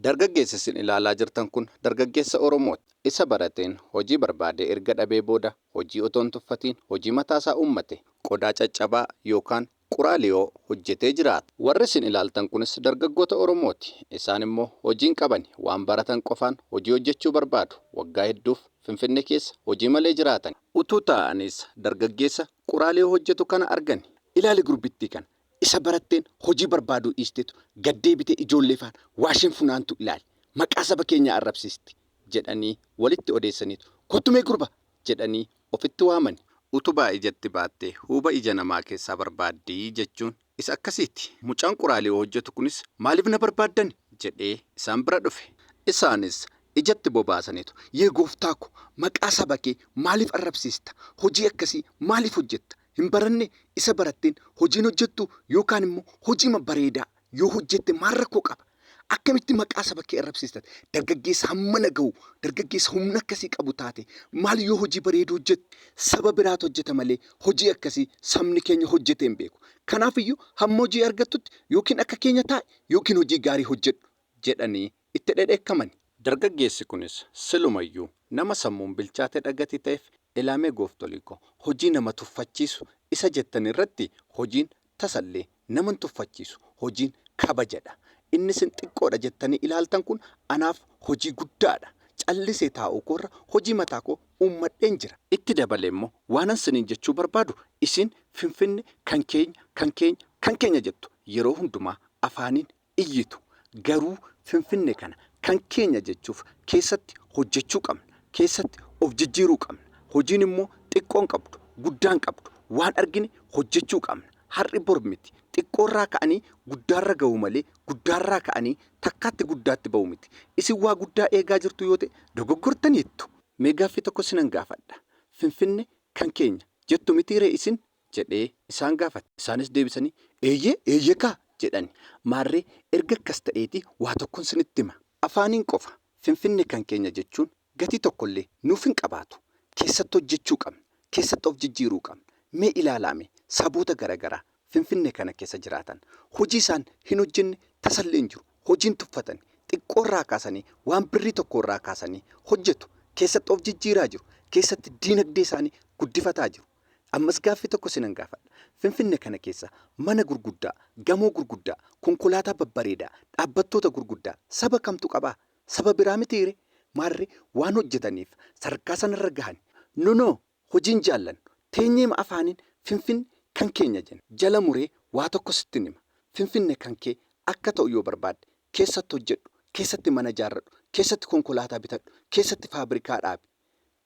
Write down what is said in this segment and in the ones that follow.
Dargaggeessi isin ilaalaa jirtan kun dargaggeessa Oromooti. Isa barateen hojii barbaadee erga dhabee booda hojii otoo hin tuffatiin hojii mataa isaa uummate qodaa caccabaa yookaan quraaliyoo hojjetee jiraata. Warri isin ilaaltan kunis dargaggoota Oromooti. Isaan immoo hojii hin qabani. Waan baratan qofaan hojii hojjechuu barbaadu. Waggaa hedduuf Finfinnee keessa hojii malee jiraatani. Utuu taa'aniis dargaggeessa quraaliyoo hojjetu kana argani. Ilaali gurbittii kana! Isa baratteen hojii barbaaduu dhiistetu gad deebitee ijoollee faana waa isheen funaantu ilaali. Maqaa saba keenyaa arrabsiisti! jedhanii walitti odeessaniitu kottu mee gurba! jedhanii ofitti waamani. Utubaa ijatti baattee huuba ija namaa keessaa barbaaddi jechuun isa akkasiiti. Mucaan quraalii hojjetu kunis maaliif na barbaaddani? jedhee isaan bira dhufe. Isaanis ijatti bobaasaniitu yee gooftaa ko maqaa saba kee maaliif arrabsiista? Hojii akkasii maaliif hojjetta? hin baranne isa baratteen hojii hin hojjettu yookaan immoo hojiima bareedaa yoo hojjette maal rakkoo qaba? Akkamitti maqaa saba kee arrabsiista? Dargaggeessa hammana gahu, dargaggeessa humna akkasii qabu taate maal yoo hojii bareedu hojjette? Saba biraatu hojjeta malee hojii akkasii sabni keenya hojjetee hin beeku. Kanaaf iyyuu hamma hojii argattutti yookiin akka keenya taa'i yookiin hojii gaarii hojjedhu jedhanii itti dhedheekkamani. Dargaggeessi kunis siluma iyyuu nama sammuun bilchaatedha gatii ta'eef Elaamee gooftolii koo hojii nama tuffachiisu isa jettan irratti hojiin tasallee nama hin tuffachiisu hojiin kabajadha inni isin xiqqoodha jettanii ilaaltan kun anaaf hojii guddaadha callisee taa'uu koorra hojii mataa koo uummadheen jira. Itti dabalee immoo waanan siniin jechuu barbaadu isiin finfinne kan keenya kan keenya kan keenya jettu yeroo hundumaa afaaniin iyyitu. Garuu Finfinne kana kan keenya jechuuf keessatti hojjechuu qabna. Keessatti of jijjiiruu qabna. Hojiin immoo xiqqoo hin qabdu, guddaa hin qabdu. Waan argine hojjechuu qabna. Har'i bor miti. Xiqqoorraa ka'anii guddaarra gahu malee guddaarraa ka'anii takkaatti guddaatti bahu miti. Isin waa guddaa eegaa jirtu yoo ta'e dogoggortaniittu. Mee gaaffii tokko isinan gaafadha. Finfinne kan keenya jettu mitiiree isin? jedhee isaan gaafate. Isaanis deebisanii, Eeyyee, eeyyee kaa! jedhan. Maarree, erga akkas ta'eetii waa tokkon sinitti hima. Afaaniin qofa Finfinne kan keenya jechuun gatii tokkollee nuuf hin qabaatu. Keessatti hojjechuu qabna. Keessatti of jijjiiruu qabna. Mee ilaalaame saboota gara garaa Finfinne kana keessa jiraatan. Hojii isaan hin hojjenne tasallee hin jiru. Hojiin tuffatani. Xiqqoo irraa kaasanii waan birrii tokkoo irraa kaasanii hojjetu. Keessatti of jijjiiraa jiru. Keessatti diinagdee isaanii guddifataa jiru. Ammas gaaffii tokko sinan gaafadha. Finfinne kana keessa mana gurguddaa, gamoo gurguddaa, konkolaataa babbareedaa, dhaabbattoota gurguddaa saba kamtu qabaa? Saba biraa mitiiree? Maarree waan hojjetaniif sadarkaa sanarra gahan. Nunoo hojii hin jaallannu. Teenyeema afaaniin Finfinne kan keenya jenna. Jala muree waa tokko sittin hima. Finfinne kan kee akka ta'u yoo barbaadde keessatti hojjedhu, keessatti mana ijaarradhu, keessatti konkolaataa bitadhu, keessatti faabrikaa dhaabi.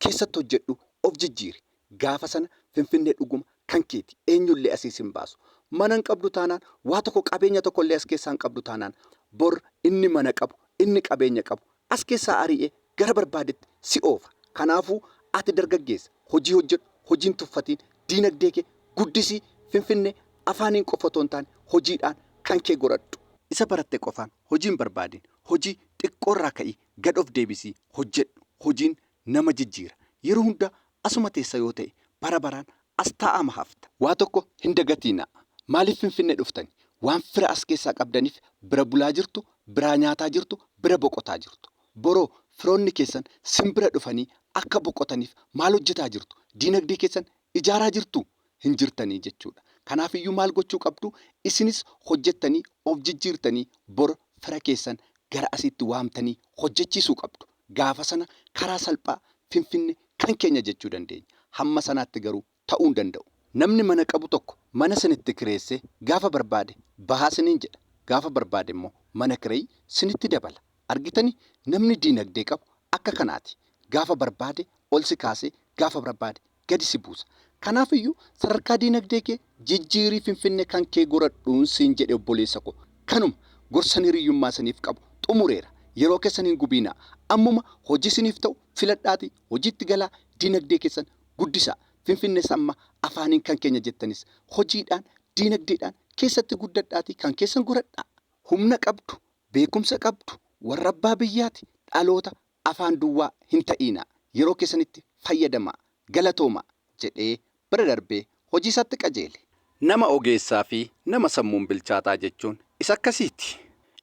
keessatti hojjedhu of jijjiiri gaafa sana finfinnee dhuguma kan keeti eenyullee asii sin baasu mana hin qabdu taanaan waa tokko qabeenya tokkollee as keessaa hin qabdu taanaan bor inni mana qabu inni qabeenya qabu as keessaa arii'ee gara barbaadetti si oofa kanaafuu ati dargaggeessa hojii hojjedhu hojii hin tuffatiin diinagdee kee guddisii finfinnee afaaniin qofa otoo hin taane hojiidhaan kan kee godhadhu isa baratte qofaan hojii hin barbaadin hojii xiqqoorraa ka'ii Gad of deebisii hojjedhu. Hojiin nama jijjiira. Yeroo hunda asuma teessa yoo ta'e bara baraan as taa'aama hafta. Waa tokko hin dagatiinaa. Maaliif Finfinne dhuftani? Waan fira as keessaa qabdaniif bira bulaa jirtu, biraa nyaataa jirtu, bira boqotaa jirtu. Boroo firoonni keessan sin bira dhufanii akka boqotaniif maal hojjetaa jirtu? Diinagdee keessan ijaaraa jirtuu? hin jirtanii jechuudha. Kanaafiyyuu maal gochuu qabdu? Isinis hojjettanii of jijjiirtanii bor fira keessan gara asiitti waamtanii hojjechiisuu qabdu. Gaafa sana karaa salphaa Finfinne kan keenya jechuu dandeenya. Hamma sanaatti garuu ta'uu hin danda'u. Namni mana qabu tokko mana sinitti kireessee gaafa barbaade bahaa siniin jedha. Gaafa barbaade immoo mana kireyi sinitti dabala. Argitanii? Namni diinagdee qabu akka kanaati. Gaafa barbaade ol si kaasee gaafa barbaade gadi si buusa. Kanaaf iyyuu sadarkaa diinagdee kee jijjiirii Finfinnee kan kee goradhuun siin jedhe obboleessa koo. Kanuma. Gorsan hiriyyummaa isiniif qabu xumureera. Yeroo keessan hin gubiinaa. Ammuma hojii isiniif ta'u filadhaatii hojiitti galaa diinagdee keessan guddisaa. Finfinnees amma afaaniin kan keenya jettanis hojiidhaan, diinagdeedhaan keessatti guddadhaatii kan keessan goradhaa. Humna qabdu, beekumsa qabdu, warra abbaa biyyaati, dhaloota Afaan duwwaa hin ta'iinaa, yeroo keessanitti fayyadamaa. Galatoomaa! jedhee bira darbee hojiisaatti qajeele. Nama ogeessaafi nama sammuun bilchaataa jechuun isa akkasiiti.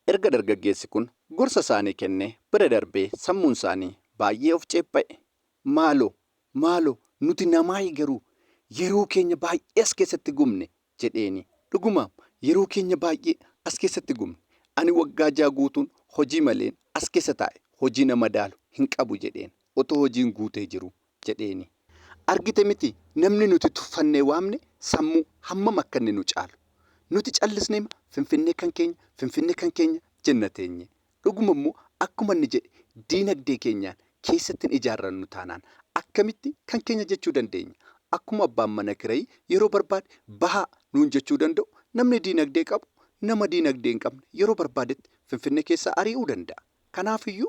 Erga dargaggeessi kun gorsasaanii kennee bira darbee sammuunsaanii baay'ee of ceepha'e. Maaloo! Maaloo! Nuti namaayi garuu yeroo keenya baay'ee as keessatti gubne, jedheeni. Dhugumaam, yeroo keenya baay'ee as keessatti gubne. Ani waggaa ja'a guutuun hojii maleen as keessa taa'e, hojii na madaalu hin qabu jedheen, otoo hojiin guutee jiruu jedheeni. Argite mitii, namni nuti tuffannee waamne sammuu hammam akka inni nu caalu! Nuti callisneema, Finfinnee kan keenya, Finfinnee kan keenya jenna teenye. Dhuguma immoo akkuma inni jedhe diinagdee keenyaan keessatti hin ijaarrannu taanaan akkamitti kan keenya jechuu dandeenya? Akkuma abbaan mana kirayi yeroo barbaade bahaa nuun jechuu danda'u namni diinagdee qabu nama diinagdee hin qabne yeroo barbaadetti Finfinnee keessaa arii'uu danda'a. Kanaaf iyyuu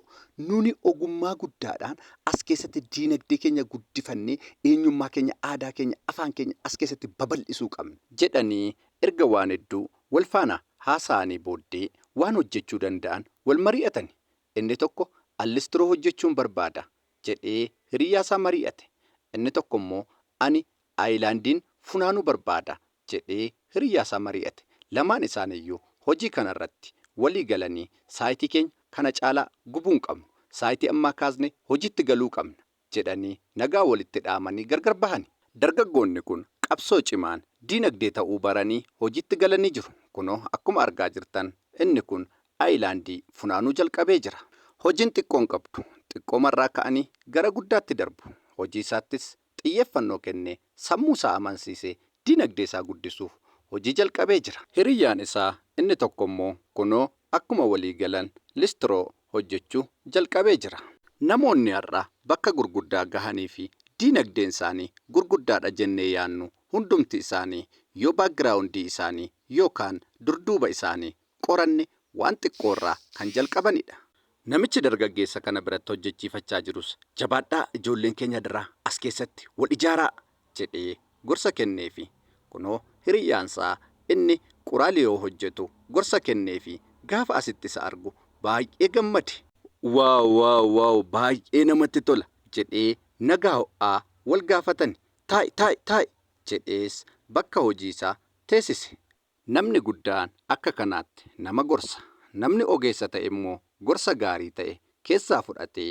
nuni ogummaa guddaadhaan as keessatti diinagdee keenya guddifannee eenyummaa keenya, aadaa keenya, afaan keenya as keessatti babal'isuu qabna. jedhanii Erga waan hedduu wal faana haasa'anii booddee waan hojjechuu danda'an wal mari'atani. Inni tokko an listiroo hojjechuun barbaada jedhee hiriyyaasaa mari'ate. Inni tokkommoo ani ayilaandiin funaanuu barbaada jedhee hiriyyaasaa mari'ate. Lamaan isaaniiyyuu hojii kanarratti walii galanii saayitii keenya kana caalaa gubuu hin qabnu. Saayitii ammaa kaasnee hojiitti galuu qabna jedhanii nagaa walitti dhaamanii gargar bahani. Dargaggoonni kun qabsoo cimaan diinagdee ta'uu baranii hojiitti galanii jiru. Kunoo akkuma argaa jirtan inni kun ayilaandii funaanuu jalqabee jira. Hojiin xiqqoon qabdu xiqqoomarraa ka'anii gara guddaatti darbu. Hojiisaattis xiyyeeffannoo kennee sammuusaa amansiisee diinagdeesaa guddisuuf hojii jalqabee jira. Hiriyyaan isaa inni tokkommoo kunoo akkuma walii galan listiroo hojjechuu jalqabee jira. Namoonni har'a bakka gurguddaa gahanii fi diinagdeen isaanii gurguddaadha jennee yaannu hundumti isaanii yoo background isaanii yookaan durduuba isaanii qoranne waan xiqqoo irraa kan jalqabanidha. Namichi dargaggeessa kana biratti hojjechiifachaa jirus jabaadhaa ijoolleen keenya adaraa as keessatti wal ijaaraa jedhee gorsa kenneefi. Kunoo hiriyyaansaa inni Qoraaliyoo hojjetu gorsa kenneefi gaafa asitti isa argu baay'ee gammade. Wow wow wow baay'ee namatti tola jedhee nagaa ho'aa wal gaafatani. Taa'i taa'i taa'i jedhees bakka hojiisaa teesise. Namni guddaan akka kanaatti nama gorsa. Namni ogeessa ta'e immoo gorsa gaarii ta'e keessaa fudhatee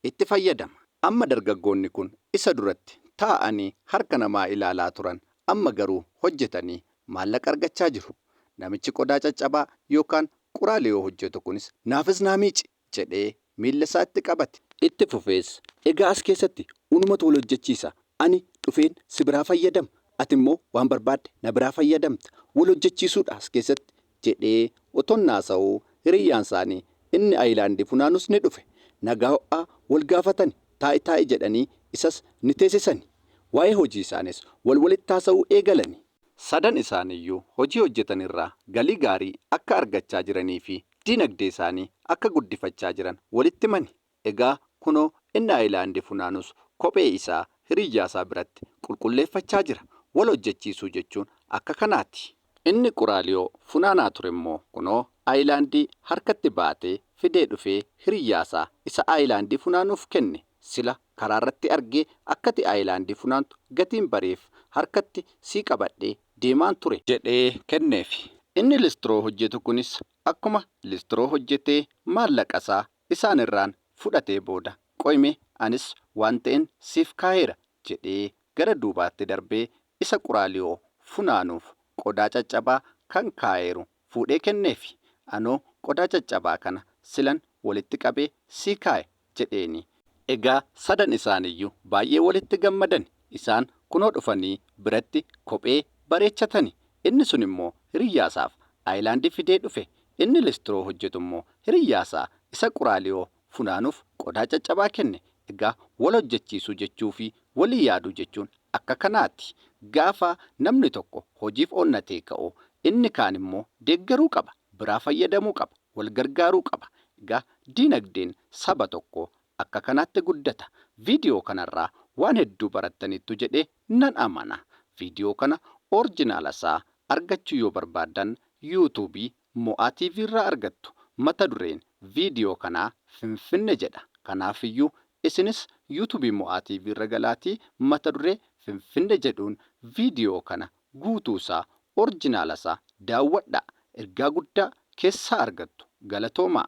itti fayyadama. Amma dargaggoonni kun isa duratti taa'anii harka namaa ilaalaa turan amma garuu hojjetanii maallaqa argachaa jiru. Namichi qodaa caccabaa yookaan quraalee yoo hojjetu kunis naafis naa miici! jedhee miillasaatti qabate. Itti fufees, Egaa as keessatti unumatu wal hojjechiisa. Ani dhufeen si biraa fayyadama, atimmoo waan barbaadde na biraa fayyadamta. Wal hojjechiisuudha as keessatti, jedhee otoon haasa'uu hiriyyaansaanii inni ayilaandii funaanus ni dhufe. Nagaa ho'aa wal gaafatani, taa'i taa'i jedhanii isas ni teesisani. Waa'ee hojiisaaniis wal walitti haasa'uu eegalanii. Sadan isaaniiyyuu hojii hojjetan irraa galii gaarii akka argachaa jiranii fi diinagdee isaanii akka guddifachaa jiran walitti himani. Egaa kunoo inni ayilaandii funaanus kophee isaa hiriyyaa isaa biratti qulqulleeffachaa jira. Wal hojjechiisuu jechuun akka kanaati. Inni Quraaliyoo funaanaa ture immoo kunoo ayilaandii harkatti baatee fidee dhufee hiriyyaa isaa isa ayilaandii funaanuuf kenne. Sila karaarratti argee akkati ayilaandii funaantu gatiin bareef harkatti sii qabadhee deemaan ture. jedhee kenneef. Inni listroo hojjetu kunis akkuma listroo hojjetee maallaqasaa isaanirraan fudhatee booda qoyimee anis waan ta'en siif kaaheera jedhee gara duubaatti darbee isa quraaliyoo funaanuuf qodaa caccabaa kan kaaheeru fuudhee kenneefi. Anoo qodaa caccabaa kana silan walitti qabee sii kaa'e jedheenii. Egaa sadan isaaniyyuu baay'ee walitti gammadani. Isaan kunoo dhufanii biratti kophee bareechatani. Inni sun immoo hiriyyaasaaf ayilaandii fidee dhufe. Inni listiroo hojjetu immoo hiriyyaasaa isa Quraaliyoo funaanuuf qodaa caccabaa kenne. Egaa wal hojjechiisuu jechuu fi walii yaaduu jechuun akka kanaati. Gaafa namni tokko hojiif onnatee ka'u inni kaan immoo deeggaruu qaba, biraa fayyadamuu qaba, wal gargaaruu qaba. Egaa diinagdeen saba tokkoo akka kanaatti guddata. Viidiyoo kanarraa waan hedduu barattaniittu jedhee nan amana. Viidiyoo kana orjinaala isaa argachuu yoo barbaaddan YouTube Mo'aa TV irraa argattu. Mata dureen video kanaa Finfinne jedha. Kanaafiyyuu isinis YouTube Mo'aa TV irra galaatii mata duree Finfinne jedhuun video kana guutuu isaa, orjinaala isaa, daawwadhaa. Ergaa guddaa keessaa argattu. Galatoomaa!